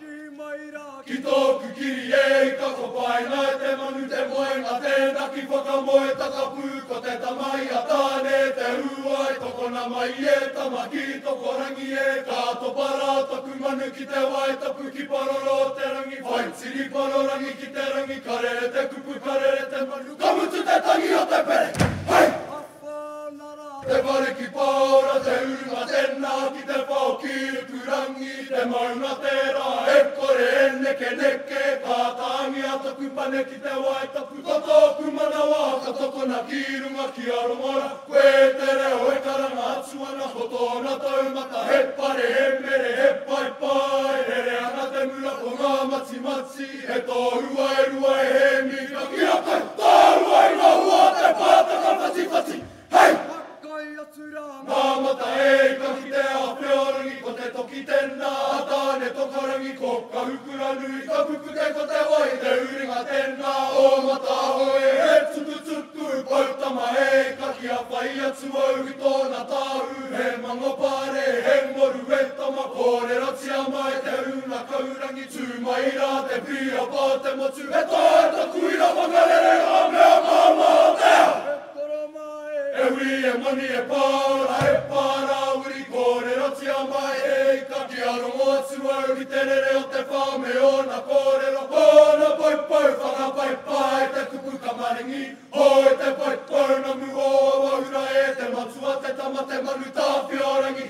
Kī mai rā ki tōku kiri e ika Ko Paenga te manu te moenga Tēnā ki Whakamoe Takapū Ko te tama i a Tāne te ū ai Tokona mai e tama ki Tokorangi e Ka topa rā taku manu ki te wai Tapu ki Paroro o te rangi Whai tiri Parorangi ki te rangi Karere te kupu karere te manu Ka mutu te tangi o te pere Hei! Te whare ki Paora, te urunga tena ki te whao ki Rukurangi, te maunga tera e kore e nekeneke, ka tangia toku pane ki te wae tapu, ko toku manawa ka tokona ki runga ki a Rongora, koe te reo e karanga atu ana, ko tona taumata he whare he mere he paepae, rere ana te mura ko nga matimati. He tōrua e rua e Hēmi ka kī a Kai. Tōrua i ngā hua a te pātaka whatiwhati, hei. Whakaae atu rā ngā. Ngā mata e i ka kitea a Peorangi ko te toki tēnā a Tāne Tokarangi ko Kahukuranui ka pupute ko te wai te uringa tēnā o Mataahoe he tukutuku poutama e i ka kī a whai atu au i tōna tāhū he mangopare he ngoru e tama kōrerotia mai te rūnakaurangi Tū mai rā te pia pā te motu. E taea taku ira whakarere ngā mea māmā o te ao. E toro mai. E hui, e moni, e pāora, e pā rā uri kōrerotia mai he ika kia rongo atu au i te rere o te whao me ōna kōrero, ōna poupou whakapai pā i te kupu tamaringi, hoi te poupounamu o Awaura e te matua te tama te manu tāwhiorangī.